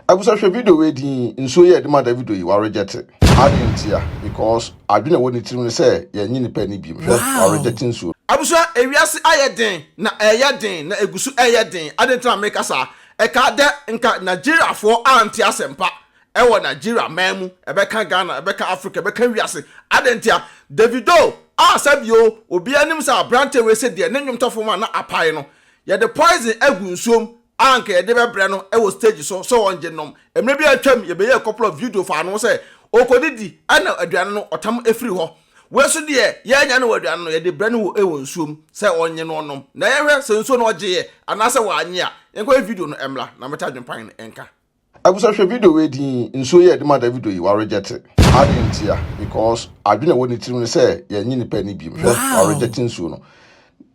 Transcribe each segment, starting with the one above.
Abusa hwɛ video wei din nsuo yɛ ɛde ma Davido yi wa reject adwene ntia because adwene ɛwɔ ne tirim ne sɛ yɛnye nipa ani biem hwɛ wa reject nsuo. Abusua ewiase ayɛ den na ɛyɛ den na eguso ɛyɛ den aden tena meka saa ɛkaa dɛ nka Nigeria foɔ ante asɛmpa ɛwɔ Nigeria man mu ɛbɛka Ghana ɛbɛka Africa ɛbɛka wiase aden ntia Davido a sɛbio obia nim sɛ abrante wei sɛ deɛ ne nwomtɔfo ma na apae no yɛde poison agu nsuom a anka yɛde bɛbrɛ no wɔ stage so sɛ ɔngye nnom. Mmerɛ bi a atwam yɛbɛyɛɛ a couple of video faa ne ho sɛ ɔrekɔdidi na aduane no ɔtam firi hɔ. Wei nso deɛ yɛannya no wɔ aduane no, yɛde brɛ no wɔ wɔ nsuo mu sɛ ɔnnye na ɔnnom na yɛnhwɛ sɛ nsuo no ɔgyeeɛ anaasɛ wannye a. Yɛnkɔhwɛ video no mmra na mɛte adwempan no nka. Abusa hwɛ video wei din nsuo yɛ ɛde ma Davido yi wa reject adi ntia because adwene ɛwɔ ne tirim ne sɛ yɛnye nipa ani biem hwɛ wa reject nsuo no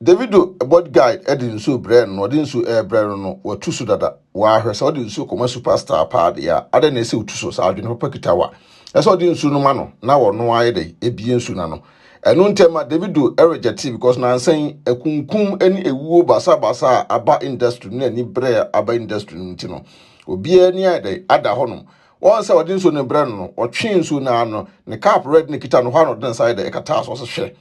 Davido body guide ɛde nsuo brɛ no ɔde nsuo ɛbrɛ no no watu so dada waa hwɛ sɛ ɔde nsuo kɔma superstar paa de a adɛ na ɛsɛ otu so saa adwene papa kita wa ɛsɛ ɔde nsuo no ma no na wɔno ayɛ dɛ ebie nsuo na no Ɛno ntɛm ma Davido regyɛ tee because nansa yi akunkum ne awuo baasa baasa a aba industry no ne ani brɛ a aba industry no nti no obiara ni ayɛ dɛn ada hɔnom wɔn sɛ ɔde nsuo no brɛ no no ɔtwe nsuo no ano ne cap red ne kita no hɔ a na ɔde ne nsa ayɛ dɛn ɛkata so ɔsɛ hwɛ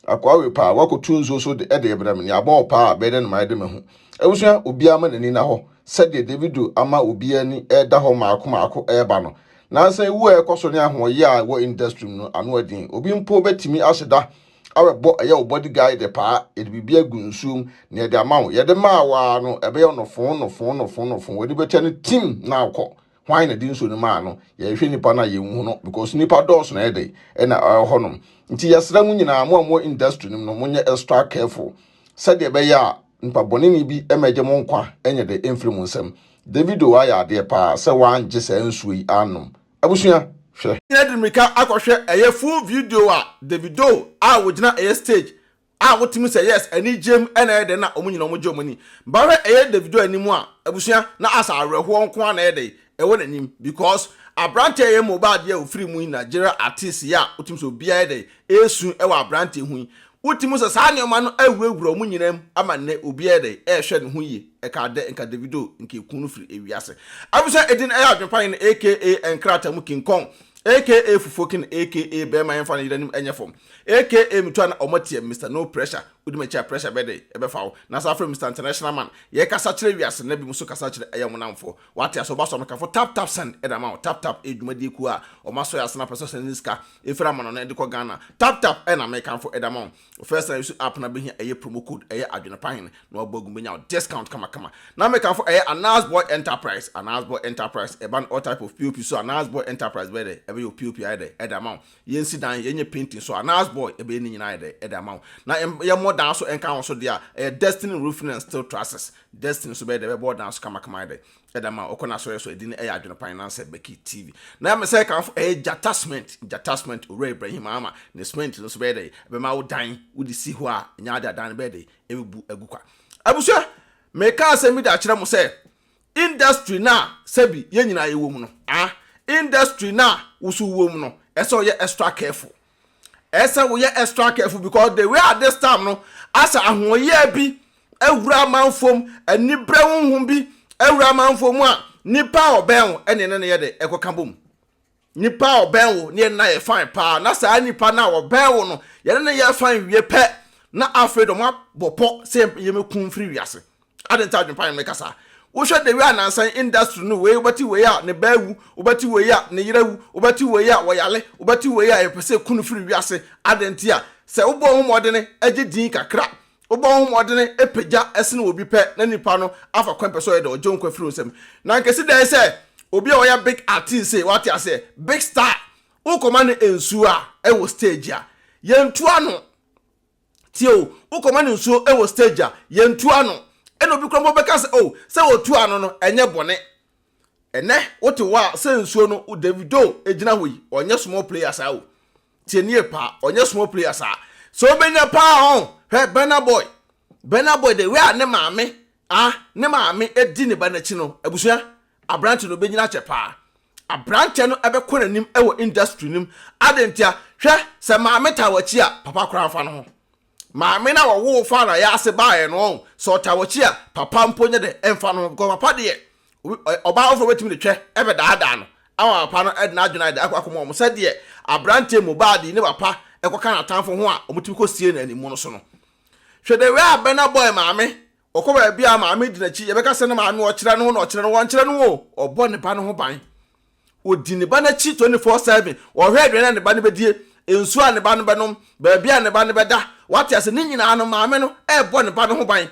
akoa wei paa wakɔtu nsuo so de ɛde brɛ me ne abɔ wɔ paa bɛyɛ dɛ no mayɛ de mahu abusua obiara ma n'ani na hɔ sɛdeɛ Davido ama obiara ni ɛda hɔ maako maako ɛreba no Nansa ewu a ɛkɔ so ne ahoɔyɛ a ɛwɔ industry mu no ano den. Obi mpo betumi ahyɛ da abɛbɔ ɛyɛ wo body guide paa, yɛde biribi agu nsuo mu na yɛde ama wo. Yɛde maa wo ara no, ɛbɛyɛ wo nofo, nofo, nofo, nofo. W'ani bɛkyɛ no tim na akɔ. Hwan na ɛde nsuo no maa no? Yɛhwɛ nipa no a yɛnhu no because nipa dɔɔso na ɛyɛ dɛ ɛna ɛwɔ hɔnom. Nti yɛsrɛ mo nyinaa, mo a mo industry no mu no, monyɛ extra careful sɛdeɛ ɛbɛyɛ a Nyimpa bɔnenyi bi ma egye mo nkwa nye dɛ emfir mo nsamu. David o, ɔayɛ adeɛ paa sɛ wɔanngye saa nsuo yi aannom. Abusua, hwɛ! Yɛde mmirika akɔhwɛ ɛyɛ full video a Davido a wɔgyina ɛyɛ stage a wotumi sɛ yes anigyem na ɛyɛ dɛn na wɔn nyinaa wɔn gye wɔn ani ba hwɛ ɛyɛ Davido anim a abusua na asɛ awerɛhoɔ nko ara na ɛyɛ dɛn ɛwɔ n'anim because abranteɛ yɛ mobile adeɛ a ofiri mu yi Nigeria artist yɛ a wotumi sɛ obiara yɛ dɛ esu ɛwɔ abranteɛ ho yi wotumi sɛ saa nneɛma no awurawura wɔn nyinaa mu ama nnɛ obiara yɛ dɛ ɛrehwɛ ne ho yie ɛka adɛ nka Davido nka ekun no firi ewiase abusua edin ɛyɛ adwenpaeɛ no aka nkrata mu king kong aka fufuo king aka bɛrima yɛnfa ne yere anim ɛnyɛ fam aka metu a na wɔn atia Mister no pressure wodi m'akyi a pressure bɛyɛ dɛ ɛbɛfa wo na saa afrɛ Mister international man yɛkasa kyerɛ wiase na binom nso kasa kyerɛ ɛyɛ wɔn nnamfoɔ Wate ase ɔba sɔmikafo tap tap send ɛde ama wo tap tap ɛyɛ dwumadie kuo a ɔmo asɔ yɛ ase na pɛ sɛ ɔsɛne ne sika ɛfiri amano no ɛde kɔ Ghana tap tap ɛna mekamfo ɛde ama wo wo first na usu app na bɛhia ɛyɛ promo code ɛyɛ adwene pa hene na wabɔ agu bɛnya wo discount kama kama na mekamfo ɛyɛ Anas boy enterprise Anas boy enterprise ɛba no all type of pop so Anas boy enterprise bɛyɛ dɛ ɛbɛyɛ wo pop ayɛ dɛ ɛde ama wo Yɛnsi dan, yɛnyɛ painting so a, Nas boy, yɛbɛyɛ ne nyinaa de de ama wo. Na yɛmmɔ dan nso nka wo so deɛ a, ɛyɛ Destiny Roofing and Steel Trusses. Destiny nso bɛyɛ dɛ, bɛbɔ wo dan so kamakama ayɛ dɛ de ama wo. Wokɔ n'asɔre so a, ɛdin no yɛ Adwenepan Nansah Becky TV. Na mesɛ ɛkamfo, ɛyɛ Gyata Cement, Gyata Cement, Owura Ibrahim Ama, ne cement no nso bɛyɛ dɛ, ɛbɛma wo dan, wode si hɔ a, ɛnyɛ ade a dan no bɛyɛ dɛ, ɛbɛbu agu kwa. Abusua, mekaa asɛm bi de akyerɛ mo sɛ, industry no a sɛbi yɛn nyinaa yɛwɔ mu no, ah, industry no a woso wɔ mu no, ɛsɛ ɔyɛ extra careful. Ɛsɛ woyɛ extra careful because the way at this time no, asɛ ahoɔyɛɛ bi awura amanfoɔ mu, anibrɛ honhom bi awura amanfoɔ mu a, nipa a ɔbɛn wo ɛne ne no yɛ dɛ ɛkɔka bom. Nipa a ɔbɛn wo ne yɛne no ayɛ fine paa, na saa nipa no a ɔbɛn wo no, yɛne no yɛ fine wie pɛ, na afei deɛ wɔabɔ pɔ sɛ yɛmɛku wo mfiri wiase. Adɛn nti a adwempa ne no mɛka saa? Wohwɛ the way a nansan industry no wei, wobɛte wei a ne ba awu, wobɛte wei a ne yere awu, wobɛte wei a ɔyare, wobɛte wei a yɛpɛ sɛ yɛku no firi wiase. Adɛn nti a? Sɛ wobɔ wo ho mmɔdene gye din kakra Wobɔ ho mmɔden pagya sen obi pɛ na nipa no afa kwan pɛ sɛ ɔyɛ dɛ ɔgye wo nkwa firi wo nsam. Na anka ɛsi dɛn sɛ obi a ɔyɛ big artist sei, wate aseɛ, big star, wokɔma no nsuo a ɛwɔ stage a, yɛntu ano. Tie o, wokɔma no nsuo wɔ stage a, yɛntu ano. Ɛna obi koraa mpo bɛka sɛ, oh, sɛ wɔtu ano no, ɛnyɛ bɔne. Ɛnɛ wote hɔ a sɛ nsuo no Davido gyina hɔ yi ɔnyɛ small player saa o tie nie paa ɔnyɛ small player saa sɛ ɔbɛnya paa ɔn hwɛ Burna Boy Burna Boy de wei a ne maame ah ne maame di ne ba n'akyi no abusua aberante no bɛnyina akyɛ paa aberanteɛ no ɛbɛkɔ n'anim ɛwɔ industry no mu adentia hwɛ sɛ maame taa w'akyi a papa koraa mfa no ho Maame na ɔwoo faa na yɛ ase baeɛ no ɔn sɛ ɔtaa wakyi a papa mpo nyɛ dɛ ɛnfa no ho because papa deɛ ɔbaa foforɔ bɛtumi de twɛ ɛbɛ daadaa no ama papa no ɛde n'adwene ayɛ dɛ akɔ akɔma ɔmo sɛ deɛ abranteɛ mu baa de ne papa ɛkɔ ka n'atanfo ho a ɔmo tumi kɔ sie no animu no so no hwɛ the way a Burna Boy maame ɔkɔ baabi a maame di n'akyi yɛbɛka sɛ ne maame ɔkyerɛ no ho na ɔkyerɛ no wɔnkyerɛ no o ɔbɔ ne ba no ho ban. Ɔdi ne ba no akyi twenty four seven. Ɔhwɛ aduane a ne ba no bɛdie, nsuo a ne ba no bɛnom, baabi a ne ba no bɛda. Wate ase? Ne nyinaa no, maame no rebɔ ne ba no ho ban.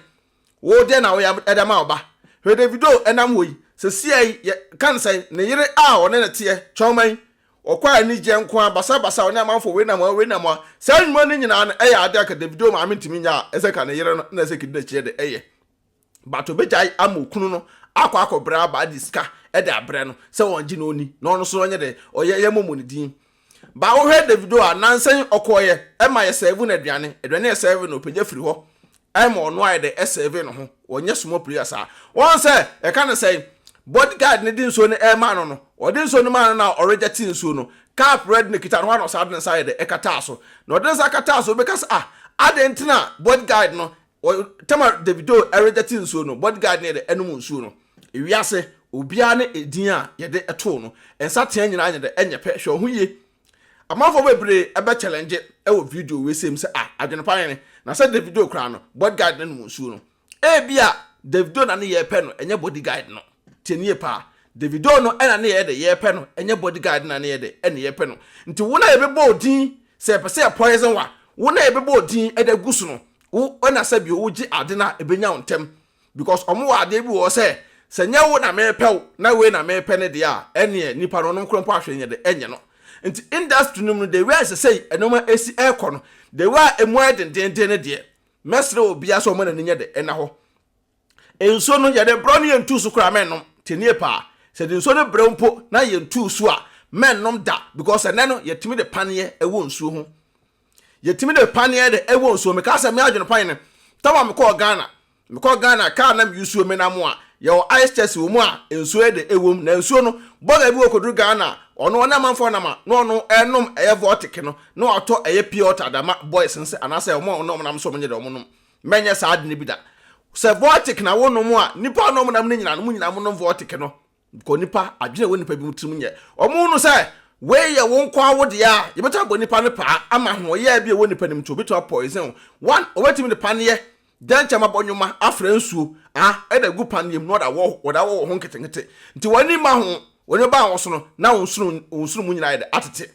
Wo dɛn na woyɛ de ama wo ba? Hwɛ Davido nam hɔ yi. Seesei yi, yɛ, ka no sɛn? Ne yere a ɔne no teɛ, kyɔma yi. Ɔkɔ a anigyeɛ nko ara, basabasa, ɔne amanfoɔ, wei nam hɔ, wei nam hɔ. Saa nnwuma no nyinaa no, ɛyɛ adeɛ a anka Davido maame ntumi nyɛ a ɛsɛ anka ne yere no na ɛsɛ kɛdi n'akyi de yɛ. but obɛgyae ama okunu no akɔ akɔbrɛ aba de sika de abrɛ no sɛ ɔngye na ɔni na ɔno so ɔnyɛ dɛ ɔyɛ yɛ mɔmɔ ne din ba wohwɛ Davido a nansɛn ɔkɔɔyɛ ɛma yɛ sɛve no aduane aduane yɛ sɛve no ɔpɛgya firi hɔ ɛma ɔno ayɛ dɛ ɛsɛve no ho ɔnyɛ small player saa wɔn sɛ ɛka ne sɛn body guard ne de nsuo no ɛma no no ɔde nsuo no ma no na ɔregya ti nsuo no cap red no kita no hɔ na ɔsaa de nsa ayɛ dɛ ɛkataa so na ɔde nsa kataa so wobɛka sɛ ah adɛn nti na body guard no Tamar Davido redɛte nsuo no bodyguard ne yɛdɛ ɛnom nsuo no ewiase obiara ne edin a yɛde ɛtoo no nsa tea nyinaa nyɛ dɛ ɛnyɛ pɛ hwɛ ɔho yie amanfoɔ bebree ɛbɛ challenge ɛwɔ video wei sɛm sɛ a adwene pa hene na sɛ Davido koraa no bodyguard ne nom nsuo no ebi a Davido na ne yɛ pɛ no ɛnyɛ bodyguard no tie nie paa Davido no ɛna ne yɛ dɛ yɛ pɛ no ɛnyɛ bodyguard na ne yɛ dɛ ɛne yɛ pɛ no nti wo na yɛbɛbɔ odin sɛ yɛpɛ sɛ yɛ poison wa wo na yɛbɛbɔ odin ɛde gu so no wo ɛna sɛ bio wogye ade no a ɛbɛnya wo ntɛm because ɔmo wɔ adeɛ bi wɔ hɔ sɛ sɛ nyɛ wo na mepɛ wo na wei na mepɛ no deɛ a ɛneɛ nipa no ɔnom korɔ mpo ahwɛ nyɛ de ɛnyɛ no nti industry no mu no the way a ɛsɛ sɛ ɛnoma ɛsi ɛkɔ no the way a ɛmu ayɛ dendenden no deɛ mɛsrɛ wɔ biara sɛ ɔma n'ani nyɛ de ɛna hɔ Nsuo no yɛde brɛ wo no yɛntu so koraa mɛnnom te nie paa sɛ de nsuo no brɛ wo mpo na yɛntu so a mɛnnom da because ɛnɛ no yɛtumi de paneɛ ɛwɔ nsuo ho yɛtumi de paneɛ de ɛwɔ nsuo meka sɛ me adwene paneɛ no tama mekɔɔ Ghana mekɔ Ghana kaa na meyusuo menam a yɛwɔ ice chest wɔ mu a nsuo ɛde ɛwɔ mu na nsuo no bɔga bi wɔ kɔduru Ghana ɔno ɔne amanfoɔ nam a na ɔno ɛnom ɛyɛ vortic no na watɔ ɛyɛ pure water dama boys nsɛ anaasɛ ɔmo ɔno ɔmo nam so ɔmo nye de ɔmo nom Mɛnyɛ saa ade no bi da. Sɛ vortic na wonom a, nnipa a wɔnom nam no nyinaa no, wɔn nyinaa wɔnom vortic no. Because nipa, adwene a ɛwɔ nipa binom tirim nyɛ. Wɔhunu sɛ wei yɛ wo nko ara wo deɛ a, yɛbɛtumi abɔ nipa no paa ama ahoɔyɛɛ bi a ɛwɔ nipa no mu nti wɔbɛtumi apoison wo. One, wɔbɛtumi de paneɛ, dɛnkyɛm abɔ nwoma, afra nsuo, ah, ɛde agu paneɛ mu na wɔde awɔ, wɔde awɔ wɔ ho nketenkete. Nti wɔn ani mma ho, wɔn ani bɛba wo so no, na wo nsono, wo nsono mu nyinaa ayɛ dɛ, atete.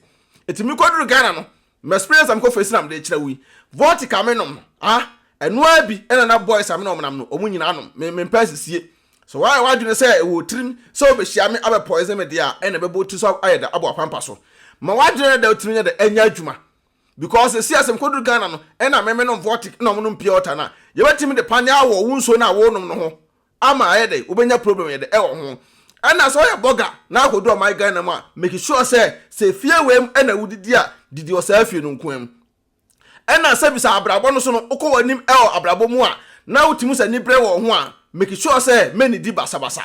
Nti mekɔduru Ghana no, M'experience a mekɔ face na mede rekyerɛ wo yi, vodka a menom no, ah, ɛno ara bi na na boys a me ne wɔn nam no, wɔn nyinaa nom. Me, mempɛ asisie. Sɛ woayɛ w'adwene sɛ ɛwɔ wo tirim sɛ wobehyia me abɛ poison me deɛ a, ɛnna ɛbɛbɔ wo tiri so ayɛ dɛ abɔ w'apampa so. Ma w'adwene no da wo tirim nyɛ dɛ ɛnyɛ adwuma. Because seesei a sɛ mekoduru Ghana no, ɛnna me, menom vodka na wɔnom pure water no a, yɛbɛtumi de paneɛ awɔ wo nsuo no a worenom no ho ama ayɛ dɛ wobɛnya problem yɛ dɛ wɔ ho ɛna sɛ ɔyɛ bɔga na akɔdu ɔman Ghana mu a make sure sɛ sɛ fie wei mu ɛna wodidi a didi wɔ saa fie no nkoaa mu ɛna sɛ bisa abrabɔ no so no wokɔ w'anim wɔ abrabɔ mu a na wotumi sɛ ni brɛ wɔ ho a make sure sɛ mɛnidi basabasa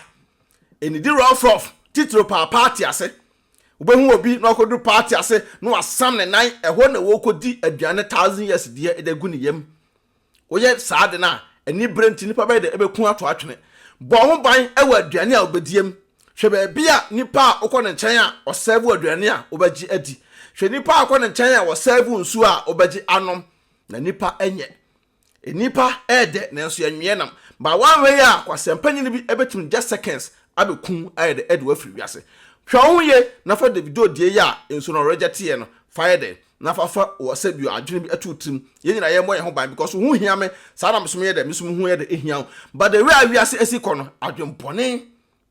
ɛnidi rough rough titiro paa party ase wobɛhu obi na ɔkɔduru party ase na wasam ne nan ɛhɔ na wɔkɔdi aduane thousand years deɛ ɛde agu ne yam Woyɛ saa ade no a, anibere nti nnipa bɛyɛ dɛ bɛku ato atwene. Bɔ ho ban wɔ aduane a wobɛdie mu. Hwɛ baabi a nipa a wokɔ ne nkyɛn a ɔsɛɛvo aduane a wobɛgye adi. Hwɛ nipa a wokɔ ne nkyɛn a ɔsɛɛvo nsuo a wobɛgye anom. Na nnipa nyɛ. Nnipa yɛ dɛ nanso yɛnweɛ nam. Ba woanwɛ yi a, kwasɛmpanyini bi bɛtumi just seconds abɛku wo ayɛ dɛ de wo afiri wiase. Hwɛ wo ho yie na fa Davido deɛ yi a nsuo no ɔregyɛteɛ no fa yɛ dɛn? na fa fa wɔ sɛ bi adwene bi ɛto wo tirim yɛn nyinaa yɛmmɔ yɛn ho ban because wo ho hia me saa na mesom yɛ dɛ mesom ho yɛ dɛ ehia wo but the way a wiase esi kɔ no adwene bɔne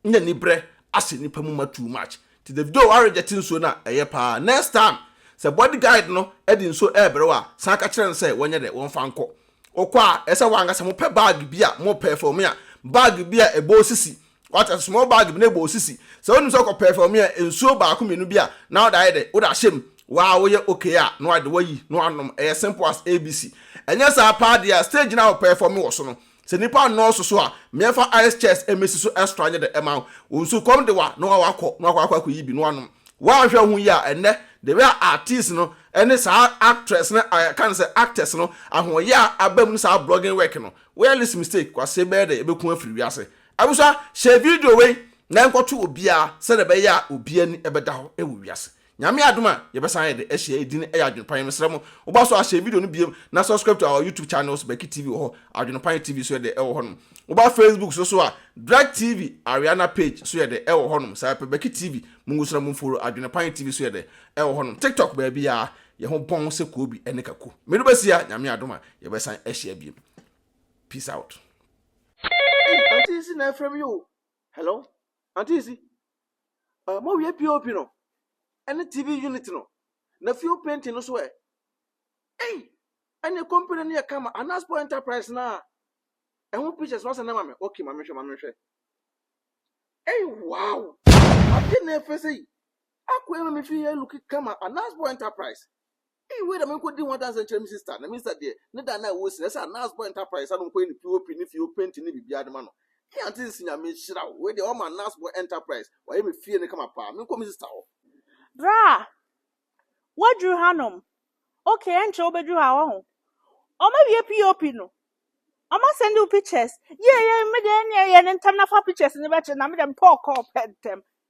ne nibrɛ ahyɛ nipa mu ma too much ti Davido wa reject nsuo no a ɛyɛ paa next time sɛ body guide no ɛde nsuo ɛɛbrɛ wo a san ka kyerɛ no sɛ wɔnyɛ dɛ wɔmfa nkɔ wokɔ a ɛsɛ wankasa mopɛ bag bi a mopɛ for me a bag bi a ɛbɔ osisi Wate ase, small bag bi na bɔ wo sisi. Sɛ wonim sɛ wokɔ pɛɛfɛwme a, nsuo baako mmienu bi a na wode ayɛ dɛ, wode ahyɛ mu, waa woyɛ okay a, na wade wayi na wanom. Ɛyɛ simple as ABC. Ɛnyɛ saa paa deɛ a, stage no a wopɛɛfɔme wɔ so no, sɛ nnipa nnɔɔso so a, meɛfa ice chest mmɛsi so extra nyɛ dɛ ɛma wo. Wo nsukɔm de wo a, na waa wakɔ na wakɔ akɔ akɔ yi bi na wanom. Woanhwɛ ho yie a, ɛnnɛ, the way a artiste no ne saa actress no a yɛka no sɛ actors no ahoɔyɛ a aba mu ne saa blogging work no, woyɛ less mistake, kwasee bɛyɛ dɛ, ɛbɛku afiri wiase. Abusua, hyɛ video wei na nkɔto obiara sɛdeɛ ɛbɛyɛ a obi ani bɛda hɔ wɔ wiase. Nyame adom a, yɛbɛsan ayɛ dɛ ahyia edi no yɛ Adwenpan. Mesrɛ mo, woba so a hyɛ video no biom na subscribe to our YouTube channels Becky TV wɔ hɔ, Adwenpan TV nso yɛ dɛ ɛwɔ hɔnom. Woba Facebook nso so a, Drake TV Ariana page nso yɛ dɛ ɛwɔ hɔnom. Saa ara pɛ Becky TV, mungu so na monfollow Adwenpan TV nso yɛ dɛ ɛwɔ hɔnom. TikTok baabiara, yɛn ho bɔn sɛ Koobi ne Kaku. Medo bɛsi a, Nyame adom a, yɛbɛsan ahyia biom. Peace out. Ei auntie si na ɛfrɛ mi o. Hello auntie si. Uh, mo wie POP no. Ɛne TV unit no. Na fuel painting no so ɛ. Ei ɛne company no yɛ kama Anasport Enterprise na ɛho pictures no asɛ na ma me. Okay ma me hwɛ ma me hwɛ. Ei wow. Adeɛ na ɛfɛ sɛ yi. Akɔ ɛma me fi yɛ look kama Anasport Enterprise. Ei wei na menkɔdi ho adanseɛ nkyerɛ me sista na me sista deɛ ne da no a ɛwɔ si no ɛsɛ a Nas Boy Enterprise a no nkɔyɛ ne POP ne fie o painting ne biribiara de ma no Ei Aunty Sisi Nyame nhyira wo wei deɛ wama Nas Boy Enterprise wayɛ me fie no kama paa menkɔ me sista hɔ. Braa! Woaduru hanom? Ok, ɛnkyɛ wobɛduru ha wahu. Wɔawie POP no? Wɔasɛnde wo pictures? Yie yie, me deɛ ɛnneɛ yɛ no ntɛm na fa pictures no bɛkyere na me deɛ mepɛ ɔkɔɔ pɛ ntɛm.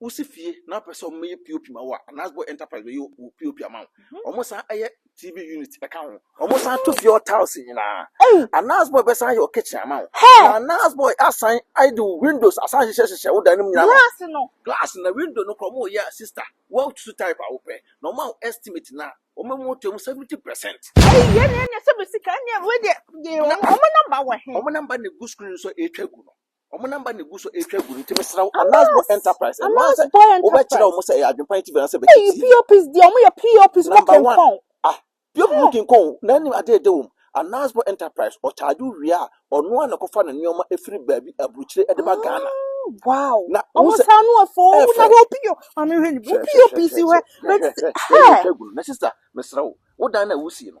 Wosi fie na wopɛ sɛ wɔyɛ POP ma wo a, anaasɛ bɔ enterprise bɛyɛ wo POP ama wo. Wɔsan yɛ TV unit ka ho. Wɔsan to fie hɔ tiles nyinaa. Anaasɛ bɔ bɛsan yɛ wo kitchen ama wo. Na anaasɛ bɔ asan de wo windows asan hyehyɛ hyehyɛ wo dan no mu nyinaa. Glass no. Glass na window no koraa wɔyɛ a sister, woatu type a wopɛ na wɔma wo estimate no a, wɔma mu to mu 70%. Ei yɛn deɛ ɛnyɛ sɛ bɛ sika ɛnneɛ wei deɛ wɔn number wɔ he? Wɔn number na egu screen so a ɛretwa gu no. Wɔn namba na egu so retwa agu no nti mesrɛ wo Alas Boy Enterprise ɛno ara sɛ wobɛkyerɛ wɔn sɛ ɛyɛ adwempa nti bɛn sɛ bɛkyi TV. Eyi POPs deɛ wɔn yɛ POPs mo kenkɔn. Ah POP mo kenkɔn o na ɛne adeɛ ɛda wɔm. Alas Boy Enterprise ɔcharge wo wie a ɔno ara na ɛkɔfa ne nneɛma ɛfiri baabi aburukyire ɛde ba Ghana. Wow wɔn saa no ɛfɛ o na hwɛ wo POP maame hwɛ ne POPs hwɛ hwɛ hwɛ hwɛ hwɛ yɛ retwa agu no na sister mesrɛ wo wo dan no a wusie no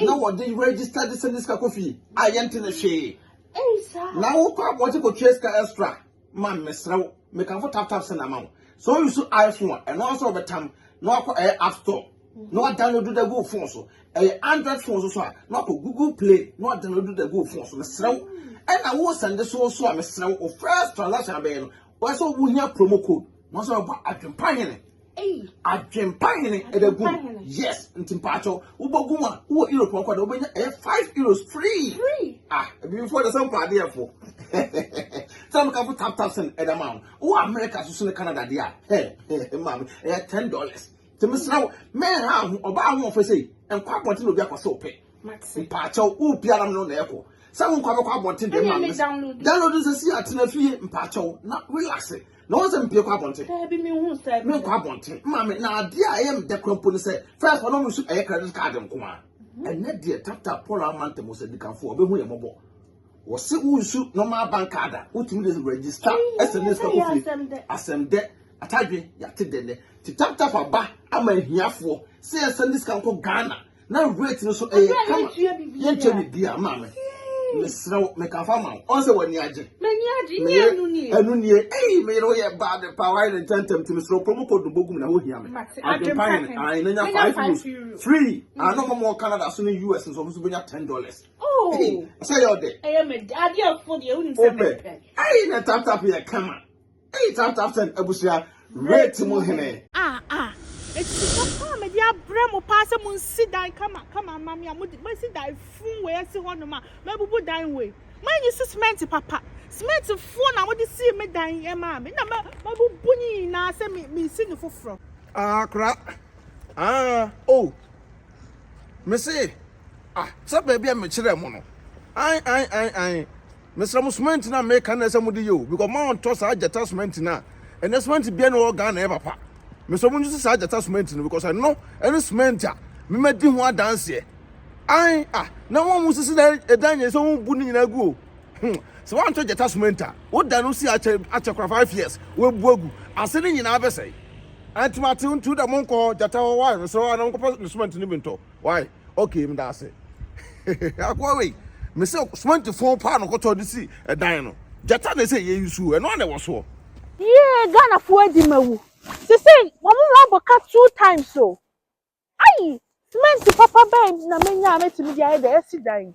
na wɔde register de sɛ ne sika kɔ fie a yɛnte ne hwee na wokɔ abɔgye kɔtua sika extra ma mesrɛ wo mekamfo taptap sɛ na ma wo so you so iphone a ɛno nso wɔbɛtam na wakɔ ɛyɛ app store na wadownload da gu phone so ɛyɛ android phone so so a na wakɔ google play na wadownload da gu phone so mesrɛ wo ɛna wo sɛnde so so a mesrɛ wo first transaction abɛyɛ no Wɔyɛ sɛ wo hia promo code. Wɔn sɛ wɔbɔ adwempa hene. Adwempa hene ɛbɛ gu. Yes, nti mpa akyɛw. Wobɔ gu mu a, wowɔ Europe ɔkɔ da, wobɛnya ɛyɛ five euros free. Ah, ebi fo ɛdɛ sɛ mpa adeɛ fo. Sɛ mo kafo tap tap send ɛdɛ ma wo. Wowɔ America so so ne Canada deɛ a, hɛ, hɛ, maame, ɛyɛ ten dollars. nti mesrɛ wo menha ho ɔbaa ahoɔfɛ sei nkɔ abɔnten na obi akɔsɛ wo pɛ mpaakyɛw wopia nam no na ɛkɔ sɛ wonkɔ abɛkɔ abɔnten deɛ ma mes download sɛ si atena fie mpaakyɛw na relax na wɔn sɛ mpie kɔ abɔnten menkɔ abɔnten ma me na adeɛ a ɛyɛ meda kora mpo no sɛ first ɔno mo nso ɛyɛ credit card nko a mhm. ɛnɛ deɛ tap tap paul amantɛm sɛ dikanfoɔ ɔbɛhu yɛ mmɔbɔ Wɔse wo nsu normal bank card a wotumi de register ɛsɛ ne sika kofie asɛm dɛ atadwe yate dɛ nɛ ti tap tap aba ama ahiafoɔ sɛ yɛn sɛ ne sika nkɔ Ghana na rate no so ɛyɛ kama yɛn kyɛ bi bia maame mesrɛ wo meka fa ma wo ɔn sɛ w'ani agye meyɛ ɛnu nie ɛyi meyere wo yɛ baa de pa wayɛ ne ntɛntɛm ti mesrɛ wo promo code no bɔgu mu na ho hia me adwempa yɛn ayi na nya five euros free ano mɔmɔ Canada so ne US nso ɔmo so bɛnya ten dollars Oh. Hey, say your day. Hey, me daddy of food. You wouldn't say me. Hey, na tap tap ya kama. Hey, tap tap sen abusia. Rate mo hene. Ah ah. It's papa me dia bre mo pa se mo nsi dan kama kama ma me mo mo si dan fun we asi ho no ma. Ma bubu dan we. Ma nyi si cement papa. Cement fo na mo de si me dan e ma me. Na ma ma bubu ni na se me me si no foforo. Ah kra. Ah oh. Me se Ah, sɛ baabi a mekyerɛɛ mo no. Ae, ae, ae, ae. Mesrɛ mo, semɛnti no a meka no na ɛsɛ mode yɛ o, because moantɔ saa gyata semɛnti no a, ɛnɛ semɛnti biara ne wɔ Ghana ɛyɛ papa. Mesrɛ mo nsusu saa gyata semɛnti no, because ɛno ɛne semɛnti a memadi ho adanseɛ. Ae, ah, na wɔn a wɔsisi na ɛdan nyɛ sɛ wɔbu ne nyinaa gu o. Hmm, sɛ woantɔ gyata semɛnti a, woda no si akyɛ akyɛ kora five years, woabu agu, ase ne nyinaa bɛsɛe. Ɛnti mate ntu da monkɔ hɔ, gyata hɔ, wae, mesrɛ wo a na monkɔfa ne semɛnti no bi ntɔ. Wai okay meda ase akoa wei me se cement fon paa no kɔtɔ de si ɛdan no gyata na ɛsɛ yɛ nsuo ɛno a na ɛwɔ soɔ. Yee Ghana fo adi ma wu. Sese wɔn mu abɔ ka two times o. Ayi cement papa bɛn na menya a mɛtumi de ayɛ deɛ yɛsi dan yi.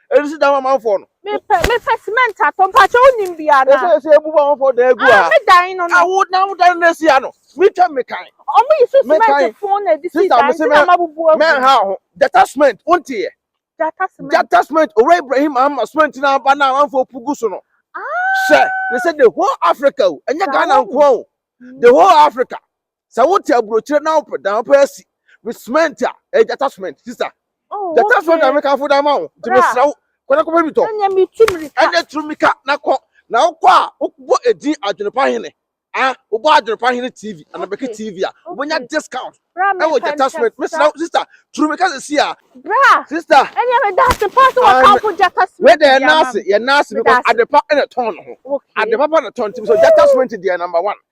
Ɛnu si dan amanfoɔ no. Mepɛ mepɛ cement atɔ mpakyɛ wonim bi ana. Ɛsɛ ɛsɛ ebu amanfoɔ dan egu ha. Ah me dan no no. Awo na wo dan no esi ha no. Mi twɛ mi kan. Ɔmo yi so cement fun na edisi dan ti na ma bubu agu. Mɛ ha ho jata cement wo nti yɛ. Jata cement. Jata cement owura Ibrahim ama cement na aba na amanfoɔ pu gu so no. Ah. Sɛ ne sɛ the whole Africa o ɛnyɛ Ghana nkoa o the whole Africa. Sɛ wote aburokyire na wopɛ dan wopɛ asi with cement a ɛyɛ gyata cement sister. Oh, gyata okay. cement na meka fo dan ma wo nti mesrɛ wo kɔ na kɔpɛ bi tɔ. Ɛnyɛ mi tu mirika. Ɛnyɛ tu mirika na kɔ na wokɔ a wobɔ edin adwenepa hene ah wobɔ adwenepa hene tv anabɛki okay. tv a wonya okay. discount ɛwɔ gyata cement mesrɛ wo sister tu mirika sɛ si a. bra sister ɛnyɛ mi daase pa so wɔ kan fo gyata cement deɛ ɛnaase yɛ naase because adepa ɛna tɔn no ho adepa pa na tɔn ti so gyata cement deɛ number one.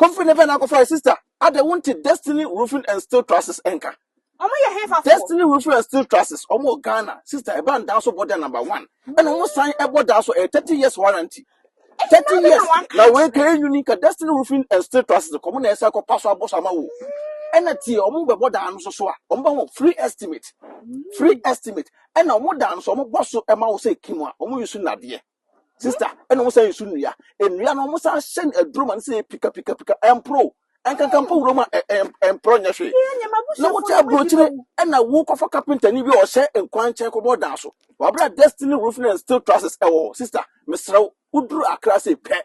Kofi ne bɛn akɔfa sister adɛ wonte Destiny Roofing and Steel Trusses nka. Ɔmo yɛ hefa fo? Destiny Roofing and Steel Trusses ɔmo wɔ Ghana sister ɛba ndaa so bɔ dɛ number one ɛna ɔmo san ɛbɔ daa so ɛyɛ thirty years warranty thirty years na wei ka ɛnwuni ka Destiny Roofing and Steel Trusses kɔ ɔmo na ɛsɛ kɔ pa so abɔ so ama wo ɛna tie ɔmo bɛbɔ daa no so so a ɔmo bɛ ho free estimate free estimate ɛna ɔmo daa no so ɔmo bɔ so ɛma wo sɛ kim a ɔmo yi so nadeɛ. Sister, ɛna wɔn san nsu nnua. Nnua no wɔn san hyɛ no aduro ma no sɛ pika pika pika ɛmporo. Ɛnkankan mpo wuram a ɛ- ɛm- ɛmporo nyɛ hwee. Na wote aburokyire ɛna wokɔfa kapentani bi a ɔhyɛ nkwan nkyɛn kɔbɔ dan so. Wabra Destiny Roofing and Steel Trusses ɛwɔ hɔ. Sister, mesrɛ wo, woduru Accra sei pɛ,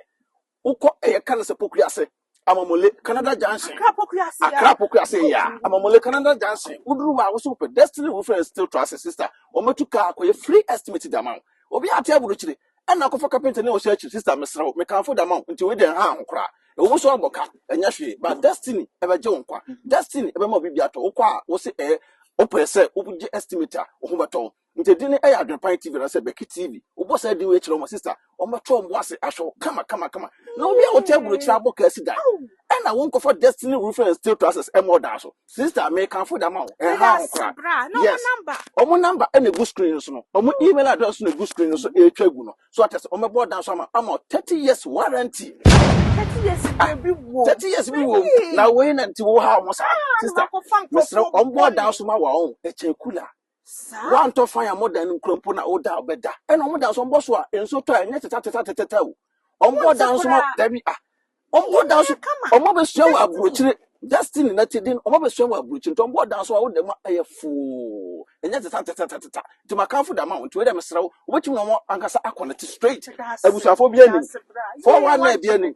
Wokɔ ɛyɛ ka no sɛ pokua ase amamole canada junction Accra Pokuya Ase akra a. pokua ase ya amamole canada junction woduru hɔ a wosɛ wopɛ destiny roofing and steel trusses sister wɔmɛtu kaa akɔyɛ free estimate de ama wo obi a ate aburukyire ɛna akɔfa kapenta ne ɔhyɛ akyiri sister mesrɛ wo mekamfo de ama wo nti wei deɛ ɛnha ho koraa ɛwɔ mu sɛ ɔbɔ ka ɛnyɛ hwee but destiny ɛbɛgye wo nkwa destiny ɛbɛma wo biribi atɔ wokɔ a wose ɛyɛ wopɛ sɛ wogye estimate a wo ho bɛtɔ wo Nti din no yɛ Adwenpan TV anaasɛ Bɛki TV. Wobɔ saa din wei kyerɛ wɔn sista, wɔbɛto wɔn bo ase ahwɛ wo kama kama kama. Na obi a wote aburokyiri abɔ kasi dan, ɛna wonkɔfa Destiny Roofing and Steel Trusses ɛma ɔdan so. Sista, mekamfo de ama wo, ɛnha ho koraa. Yes, wɔn number ɛna egu screen no so no, wɔn email address na egu screen no so ɛretwa gu no. So ate ase, wɔbɛbɔ ɔdan so ama, ama 30 years warranty. 30 years bi wɔ. 30 years bi wɔ. Na wei na nti wo ha wɔn saa. Sista, mesrɛ wɔn bɔ ɔdan so ma wɔn, ɛkyɛn kula. Saa. Wɔntɔ fan a modan no nkura mpo na woda bɛda. Ɛna wɔn dan so wɔbɔ so a nsuo tɔ a ɛnyɛ teta teta teta teta o. Wɔbɔ dan so ma dabi a. Wɔbɔ dan so wɔn abɛsua wɔ aburokyire destiny na ti din wɔn abɛsua wɔ aburokyire nti wɔbɔ dan so a woda mu a ɛyɛ foo ɛnyɛ teta teta teta teta nti ma kanfo da ma wɔn nti wɔyɛ dɛ mesrɛ wo wobɛtumi na wɔn ankasa akɔnɛte straight abusuafo bi anim fɔwa na bi anim.